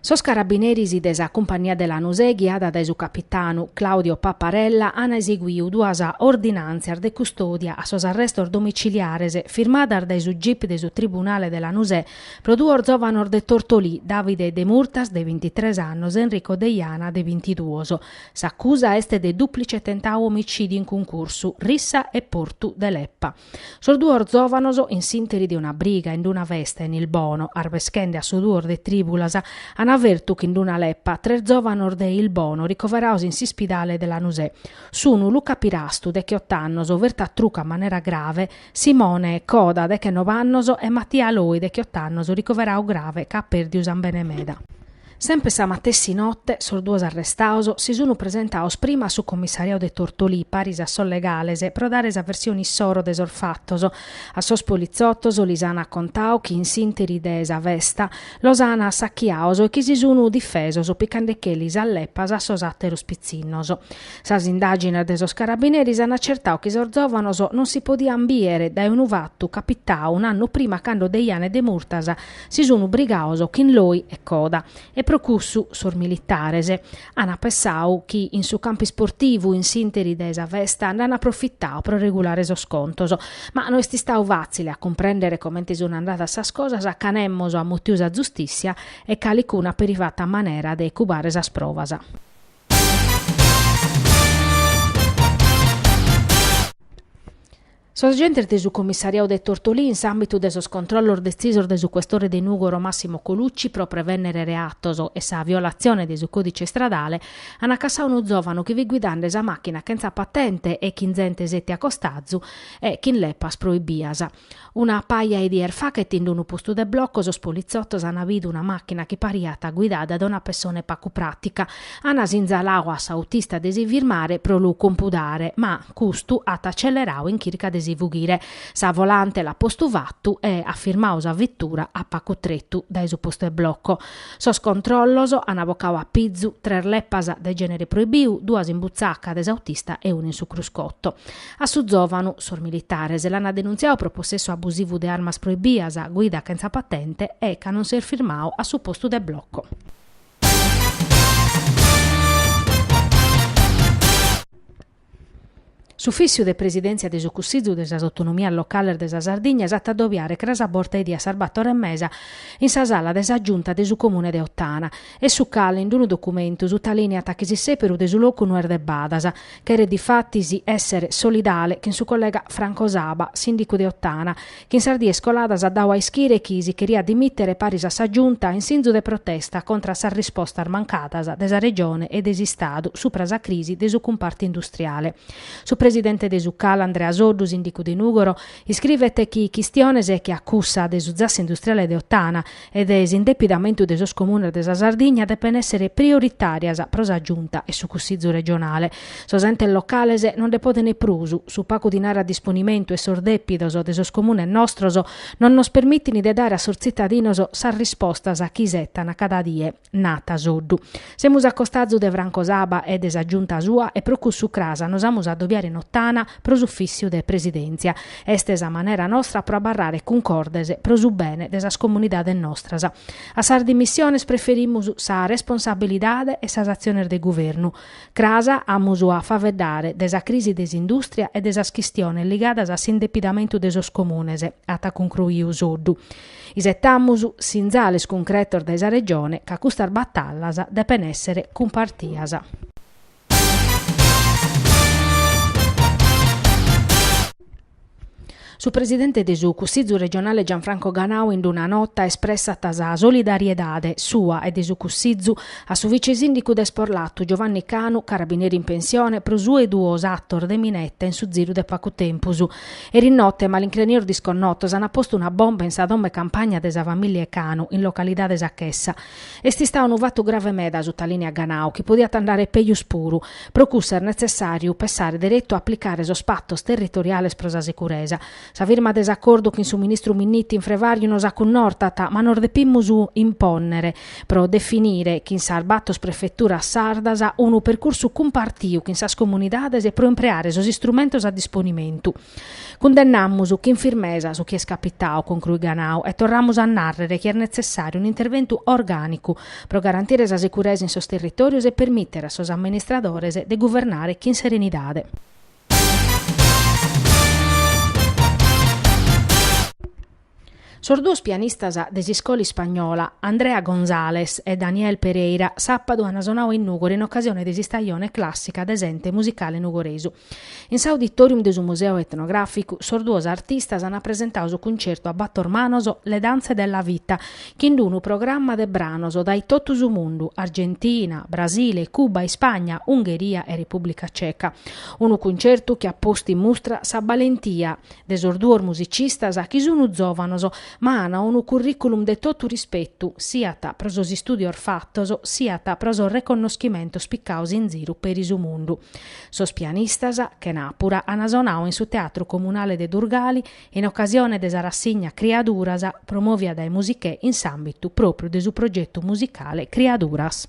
Sos carabineris de sa cumpagnia de Lanusè ghiada dae su capitanu Claudio Paparella an eseguiu duas ordinàntzias de custòdia a sos arrestos domiciliares firmadas dae su gip de su tribunale de Lanusè pro duos zòvanos de Tortolì, Davide Demurtas de bintitres annos e Enrico Deiana de bintiduos. S'acusa est de dùplice tentadu omicìdiu in cuncursu, rissa e portu de leppa. Sos duos zòvanos, in s'interi de una briga in una festa in Ilbono, arbeschende a su duos de trìbulas, an fertu chin una lepa tres zòvanos de Ilbono ricoverados in s'ispidale de Lanusè sunu Luca Pirastu, decheot'annos, fertu a trucu a manera grave, Simone Coda, dechenob'annos, e Mattia Loi, decheot'annos, ricoveradu grave ca at pèrdiu sàmbene meda. Semper sa matessi note sos duos arrestados si sun presentados prima a su commissariadu de Tortolì paris a sos legales pro dare sa versione issoro de sos fatos. A sos politzotos lis an acontadu chi in s'interi de sa festa los an assachiados e chi si sun difesos picandecheli sas lepas a sos àteros pitzinnos. Sas indàgines de sos carabineris an acertadu chi sos zòvanos non si podian bìere dae unu fatu capitadu un'annu prima cando Deiana e Demurtas si sunu brigaos chin Loi e Coda e pro cussu sos militares ana pessau chi in su campu isportivu in s'interi de sa festa nd'ana aprofitau pro regulare sos contos ma no est istau fatzile a cumprendere comente sunu andadas sas cosas ca nemos at mutiu sa zustissia e calicunu at peri fatu a manera de cubare sas provas. Sos agentes de su Commissariau de Tortolì in s'àmbitu de sos controllos detzisos de su questore de Nùgoro Massimo Colucci pro prevènnere reatos e sa violatzione de su còdice istradale an acassadu unu zòvanu chi fit guidende sa màchina chentza patente e chin zente sètia a costazu e chin lepas proibias. Una paja 'e dies faghet in unu postu de bloco sos politzotos an bidu una màchina chi pariat guidada dae una pessone pagu pràtica. An sinzaladu a s'autista de si firmare pro lu compudare ma, Custu at accellerau in chirca de si fughire. Sa volante l'at postu fatu e at firmau sa vettura a pacu tretu dae su postu 'e bloco. Sos controllos an bocau a pizu tres leppas de genere proibiu, duas in butzaca de s'autista e una in su cruscotto. A su zovanu, sos militares l'ana denuntziau pro possessu abusivu de armas proibias, guida chentza patente e ca non s'est firmau a su postu de bloco. S'Ufìssiu de Presidèntzia de su Cussizu de sas Autonomias Locales de sa Sardigna s'at a addobiare cras a borta 'e die a sas bator e mesa in sa sala de sa Giunta de su Comune de Ottana e su CAL in unu documentu sutalìniat chi s'isèperu de su locu no est de badas. Cheret difatis èssere solidale chin su collega Franco Saba, Sìndicu de Ottana, chi in sas dies coladas at dadu a ischire chi si cheriat dimìtere paris a sa Giunta in sinzu de protesta contra a sas rispostas mancadas de sa Regione e de s'Istadu supra sa crisi de su cumpartu industriale. Su presidente de su Cal Andrea Soddu, sìndicu de Nùgoro, iscrivet chi chistiones che a cussa de su zasse industriale de Ottana, e de s'indepidamentu de sos comunes de sa Sardigna depen èssere prioritàrias pro sa Giunta e su Cussizu regionale. Sos entes locales non nde podent prus, su pagu dinare a disponimentu e sos dèpidos de sos comunes nostros non nos permitint de dare a sos tzitadinos sas rispostas chi isetan cada die. narat Soddu. Semus a costazu de Franco Saba e de sa Giunta sua e pro cussu cras nos amus a dobiare in Ottana pro s'ufìssiu de Presidèntzia. Est sa manera nostra pro abarrare cuncordes pro su bene de sas comunidades nostras. A sas dimissiones preferimus sa responsabilidade e sas atziones de guvernu. Cras amus a faveddare de sa crisi de s'indùstria e de sas chistiones ligadas a s'indepidamentu de sos comunes, at cuncruiu Soddu. Isetamus sinzales cuncretos dae sa Regione ca custas batallas depen èssere cumpartias. Su presidente de su Cussizu regionale Gianfranco Ganau in una nota espressat sa solidariedade sua e de su Cussizu a su vice-sìndicu de Sporlatu Giovanni Canu, carabinere in pensione, pro su 'e duos atos de mineta in su ziru de pagu tempus. Eri note, malincrenios disconnotos ant postu una bomba in sa domo 'e campagna de sa famìlia Canu, in localidade Sa Chessa. Est istadu unu fatu grave meda, sutalìniat Ganau, chi podiat andare pejus puru. Pro cussu est netzessàriu passare deretu a aplicare sos patos territoriales pro sa sicuresa. Sa firma de s'acordu chin su ministru Minniti in frevàriu nos acunortat, ma nos depimus impònnere. pro definire chin sas bator prefeturas sardas unu percursu cumpartiu chin sas comunidades e pro impreare sos istrumentos a disponimentu. Cundennamus chin firmesa su chi est capitadu, concruit Ganau, e torramus a nàrrere chi est netzessàriu un'interventu orgànicu pro garantire sa seguresa in sos territòrios e permìtere a sos amministradores de guvernare chin serenidade. Sos duos pianistas de s'iscola ispagnola, Andrea González e Daniel Pereira, sàpadu ant sonadu in Nùgoro in ocasione de s'istajone clàssica de s'ente musicale nugoresu. In s'auditòrium de su Museu Etnogràficu sos duos artistas ant presentadu su cuncertu a bator manos Le danze della vita, chin d'unu programma de branos dae totu su mundu, Argentina, Brasile, Cuba, Ispagna, Ungheria e Repùblica Ceca. Unu cuncertu chi at postu in mustra sa balentia de sos duos musicistas chi sunu zòvanos ma an unu curriculum de totu rispetu, siat pro sos istùdios fatos, siat pro sos reconnoschimentos picados in ziru peri su mundu. Sos pianistas, chena àpura, an sonadu in su Teatru Comunale de Durgali in ocasione de sa rassigna Criaduras, promòvia dae Musichè in s'àmbitu pròpriu de su progetu musicale Criaduras.